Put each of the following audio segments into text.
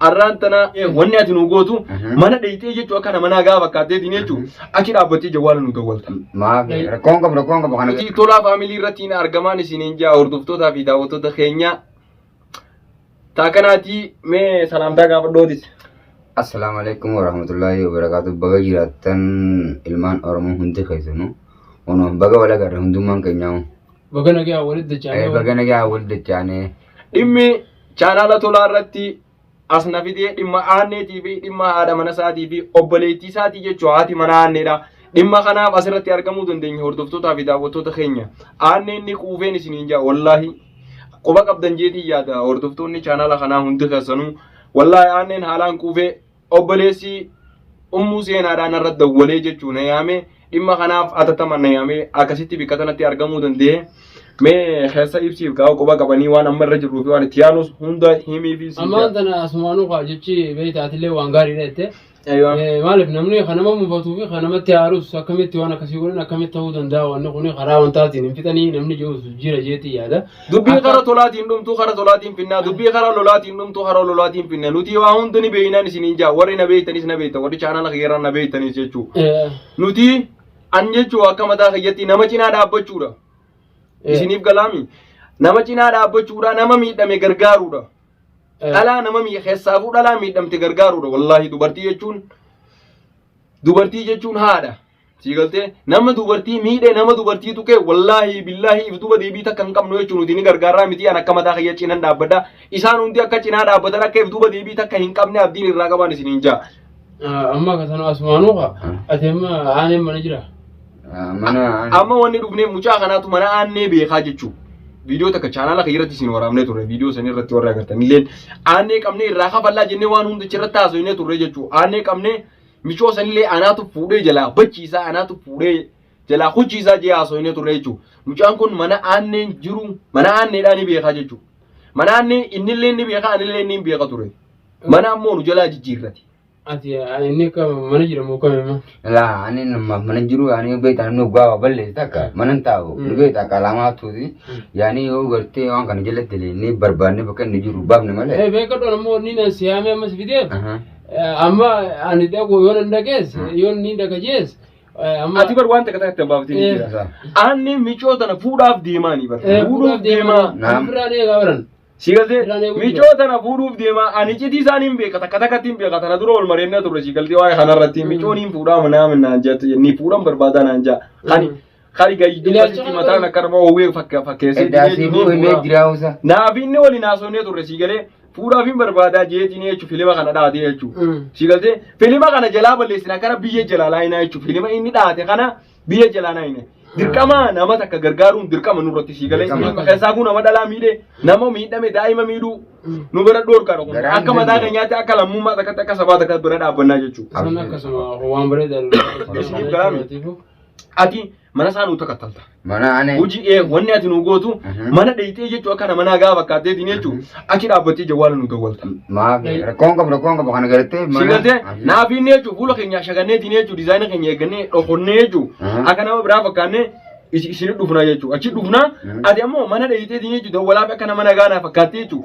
Arraan tanaa wanni ati nu gootu mana dheeyxee jechuu akka nama nagaa fakkaatteetiin jechuu achi dhaabbattee jawwaala nu dawwalta. Maaf rakkoon qabu rakkoon qabu kana. Nuti tolaa faamilii irratti hin argamaan isiniin jaa hordoftootaa fi daawwattoota keenya. Taa kanaatii mee salaamtaa gaafadhootis. Assalaamu alaikum warahmatullahi wabarakatuh. Baga jiraattan ilmaan Oromoo hundi keessanuu. Ono baga wal agarre hundummaan keenyaa. Baga nagaa walitti dachaanee. Baga nagaa wal dachaanee. Dhimmi Chaanaala tolaa irratti as na fidee dhimma aanneetii fi dhimma haadha mana isaatii fi obboleettii isaatii jechuu haati mana aanneedha. Dhimma kanaaf asirratti argamuu dandeenya hordoftootaa fi daawwattoota keenya. Aanneen ni quufeen isiniin jaa wallaahi. Quba qabdan jeetii yaada hordoftoonni chaanaala kanaa hundi keessanuu wallaahi aanneen haalaan quufee obboleessi ummuu seenaadhaan irra dawwalee jechuun na yaame dhimma kanaaf atattaman na yaame akkasitti bikka sanatti argamuu danda'e mee keessa ibsiif gaa'u quba qabanii waan amma irra jirruu fi waan itti yaanus hunda himii fi siin Ammaan tana asumaanuu kaa jechi beektaa atillee waan gaariidha jette. Eeyyoon. Eh, Maaliif namni kan nama mufatuu fi kan namatti haarus akkamitti waan akkasii godhan akkamitti ta'uu danda'a wanni kun karaa wantaatiin hin fixanii namni jiruus jira jeetii yaada. Dubbii Akka- kara tolaatiin dhumtuu kara tolaatiin finnaa dubbii kara lolaatiin dhumtuu kara lolaatiin finna nuti waa hundi ni beeynaan isiniin jaa warri na beeytanis na beeytan warri chaanala kiyyaarraa na beeytanis jechuu Eh, nuti an jechuu akka mataa kiyyatti nama cinaa dhaabbachuudha eh, isiniif galaami nama cinaa dhaabbachuudha nama miidhame gargaaruudha eh, dhalaa nama mii- keessaafuu dhalaa miidhamte gargaaruudha wallaahi dubartii jechuun dubartii jechuun haadha Sii galtee nama dubartii miidhe nama dubartii tuqe wallaahi billaahi if duba deebii takka hin qabnu jechuun nuti ni gargaarraa miti an akka mataa kiyya cinan dhaabbadha. Isaan hundi akka cinaa dhaabbatan akka if duba deebii takka hin qabne abdiin irraa qabaan isin hin jaa. Amma akka sana asumaanuu kaa ati amma aaneen mana jira. Mana Amma wanni dhufnee mucaa kanaatu mana aannee beekaa jechuu. Viidiyoo takka chaanaala kiyya irratti isin waraabnee turre viidiyoo san irratti warra agartan illeen aannee qabnee irraa kafallaa jennee waan hundicha irratti haasofnee turre jechuu aannee qabnee Michoo sanillee anaatu fuudhee jalaa bachiisaa anaatu fuudhee jalaa kuchiisaa jee haasoinee turre jechuudha. Mucaan kun mana aanneen jiru mana aanneedhaa ni beekaa jechuudha. Mana aannee innillee ni beekaa anillee ni beeka ture. Mana ammoo nu jalaa jijjiirrate. Ati inni akka mana jira moo kame ma? Laa ani nama mana jiru ani beektaa namni gaafa balleessi takka mana hin taa'u ni beektaa akka alaamaa tuuti yaani yoo gartee waan kana jalatti illee ni barbaanne bakka inni jiru baafne malee. Eh beekadhu ammoo inni na siyaamee ammas fideef. Ahaa. Amma ani dhaqu yoo nan dhaqees yoo inni dhaqa jees amma Ati bar waan takka takka itti baafatee ni Eh. jira. Isaa. Aanni micoo tana fuudhaaf deemaa ni bar. Eh, Fuudhuuf deemaa. Naam. Biraan eegaa baran. Si galtee Biraan eeguu micoo tana fuudhuuf deemaa ani cidii isaan hin beeka takka takkatti hin beeka tana dura wal mareennaa turre si galtee waa'ee kanarratti micoon hin fuudhaa manaa naan jette ni fuudhan barbaadaa naan jaa. Ani Mm. Kari gayi dubbasitti mataan akka nama oowwee fakka- fakkeessee Eddaa jiree siifuu jiree himee fuudhaa. jiraa usa. Naafiinni waliin haasofnee turre sii galee fuudhaaf hin barbaadaa jeetiin jechuun filima kana dhaatee jechuun. Mm. Sii galtee filima kana jalaa balleessina kana biyya jalaa laayinaa jechuun filima inni dhaate kana biyya jalaa laayina. Dirqama nama takka gargaaruun dirqama nurratti sii galee Dirqama. keessaafuu nama dhalaa miidhe nama miidhame daa'ima miidhuu nu bira dhoorkaadha kun Garaan akka mataa danda'u. keenyaatti akka lammummaa takkatti akka sabaa takkatti bira dhaabbannaa jechuudha. Sana akkasuma waan bareedaa Isin galaami. ati mana isaa nuu takattalta. Mana ani. Hojii ee wanni ati nuu gootu Mhm. mana dheeyxee jechuu akka nama nagaa fakkaatteetiin jechuu achi dhaabbattee jawwaala nuu dawwalta. Maaf rakkoon qabu rakkoon qabu kana galattee Si galte naaf inni jechuu fuula keenya shaganneetiin jechuu dizaayina keenya eeggannee dhokonnee jechuu Mhm. akka nama biraa fakkaannee isi- isin dhufnaa jechuu achi dhufnaa Mhm. ati ammoo mana dheeyxeetiin jechuu dawwalaaf akka nama nagaa naa fakkaattee jechuu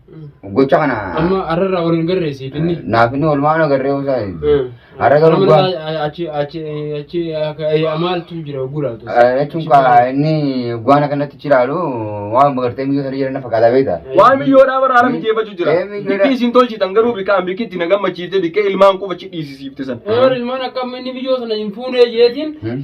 Gocha kana Amma har'arraa waliin garreessi finni. naaf inni olmaan agarree usaa Har'a garuu Amma waan- naa- achi achi achi akka- ayyaa maaltu jira gulaatu. jechuun kaa inni waan akkanatti jiraalu waan bagartee miyyoo sana jiran na fakkaata beekta. Waan biyyoodhaa bara haala mijeeffachuu jira. Ee, biyyoodhaa. Bikki isin tolchitan garuu bikkaan bikki itti na gammachiifte bikkee ilmaan quba cidhiisisiifte san. Yoo ilmaan akka amma inni biyyoo sana hin fuunee jeetiin Hmm?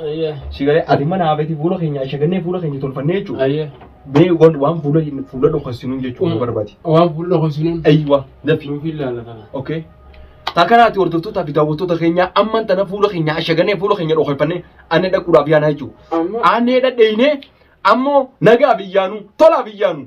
Ayyee. Si galee ati mana haafeeti fuula keenya ashagannee fuula keenya tolfannee jechuudha. Ayyee. Bee wan waan fuula hin fuula dhokassinuu jechuudha nu barbaadi. Waan fuula dhokassinuu. Aywa dafi. Nuuf hin laala kana. Okay. Takanaati hordoftoota fi daawwattoota keenya amman tana fuula keenya ashagannee fuula keenya dhokafannee anne dhaquudhaaf yaanaa jechuudha. Amma. Anne dhadheeynee ammoo nagaa biyyaanuu tolaa biyyaanuu.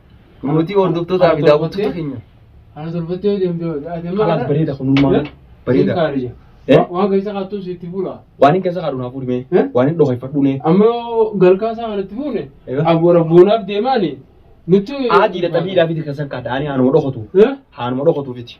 Mootii hordoftootaa fi daawwattoota keenya. Ana torbatti yoo deemte yoo ta'e. Kanaaf bareeda kunummaa. Bareeda. Eh? Waan keessa kaattuu sitti fuula. Waan hin keessa kaadhu naaf fuudhime. Eh? Waan hin dhoofeffadhu ne. Amma yoo galkaa isaa kanatti fuune Egaa? abboora boonaaf deemaani nutti. Aadiidha xabiidhaa fiti keessan kaadha. Ani haanuma dhokotu. Eh? Haanuma dhokotu fiti.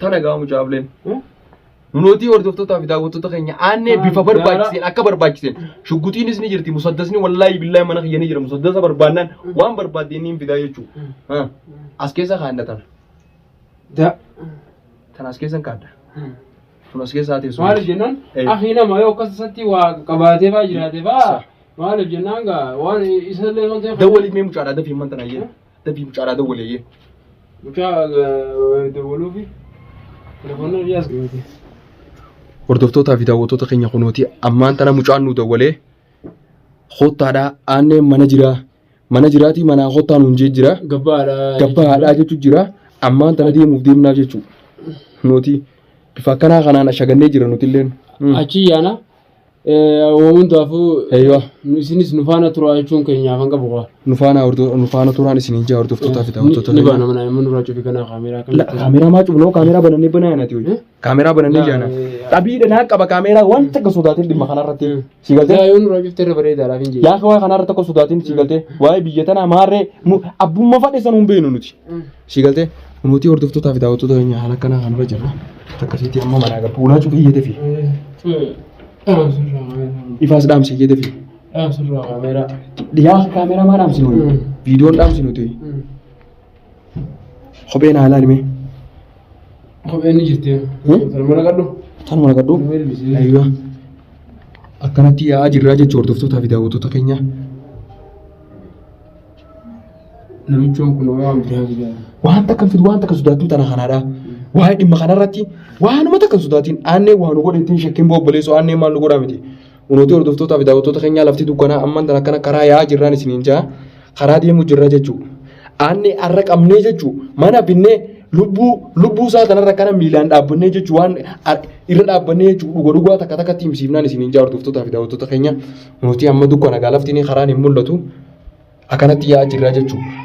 Tana gahaa mucaafleen. Nunotii hordoftootaa fi daawwattoota keenya aannee bifa barbaachiseen akka barbaachiseen shugguxiinis ni jirti musaddasni wallaahi billaahi mana kiyya ni jira musaddasa barbaannaan waan barbaadde inni hin fidaa jechuudha. As keessa kaadda tana. Da. Tana as keessa hin kaadda. Tun as keessa haatee Maaliif sun. jennaan Eh. akhi nama yoo akkas isatti waa qabaatee faa jiraate faa maaliif jennaan gaa waan isallee waan ta'eef. Dawwaliif mee mucaadhaa dafii man tana jedhe. Dabii mucaadhaa dawwaleeyyee. Mucaa dawwaluufi telefoonni biyyaas ga'eeti. Hordoftootaa fi daawwattoota keenya kunooti ammaan tana mucaan nu dawwalee kottaadhaa aanneen mana jiraa mana jiraatii manaa kottaa nuun jee jira Gabbaadha. gabbaa haadhaa jechuun jira ammaan tana deemuuf deemnaa jechuudha. Nuti bifa akkanaa kanaan ashagannee jira nutilleen. Achi yaana Uumamantu hafuu Eeyyoo. isinis nu faana turaa jechuun keenyaaf hanga bu'aa. Nu faana hordo- nu faana turaan isin ijaa hordoftootaa fi daawwattoota Ni keenya. baana manaa immoo nurraa cufi kanaa kaameeraa kan La- Kaameeraa maa cufnoo kaameeraa banannee banaa yaanati Eh? hoyi. Kaameeraa banannee Yaa, jaana. eh, Dhabii dhanaa qaba kaameeraa waan takka sodaatiin dhimma kanarratti. Mm. Si galtee? Yaa yoo nurraa cufte irra bareedaadhaaf hin jedhu. Yaa kawaa kanarra tokko sodaatiin si galtee. Waa'ee biyya tanaa maarree nu abbummaa fadhe san hin beeknu nuti. Sii galtee nuti hordoftootaa fi daawwattoota keenya haala kanaa kan irra jirra. Akkasitti amma manaa gala. Fuulaa cufee iyyatee fi ifaas dhaamsi iyyatee fi dhiyaas kaameraa maa dhaamsi nuyi Mm. viidiyoon dhaamsi nuti kopheen haalaa himee Kopheen ni jirti. Hmm? Salma naqadhu. tanuma naqadhu. Nama ilbisee. Aywa. Akkanatti yaa'aa jirraa jechuun hordoftootaa fi daawwattoota keenya Namichoon kun waan biraa biraa. Waan takka hin fidu waan takka sodaattuu tana kanaadha. Waa'ee dhimma kanarratti waanuma takka hin sodaatiin aannee waa nu godhe ittiin shakkiin boo obboleessoo aannee maal nu godhaa miti. Unooti hordoftootaa fi daawwattoota keenyaa lafti dukkanaa amman tan akkana karaa yaa'aa jirraan isiniin ja'a karaa deemuu jirra jechuu. Aannee har'a qabnee jechuu mana binnee lubbuu lubbuu isaa kanarra kana miilaan dhaabbannee jechuu waan ar- irra dhaabbannee jechuu dhuga dhugaa takka takkatti himsiifnaan isiniin ja'a hordoftootaa fi daawwattoota keenyaa. Nuti amma dukkana gaa lafti ni karaan hin mul'atu. Akkanatti yaa'aa jirra jechuudha.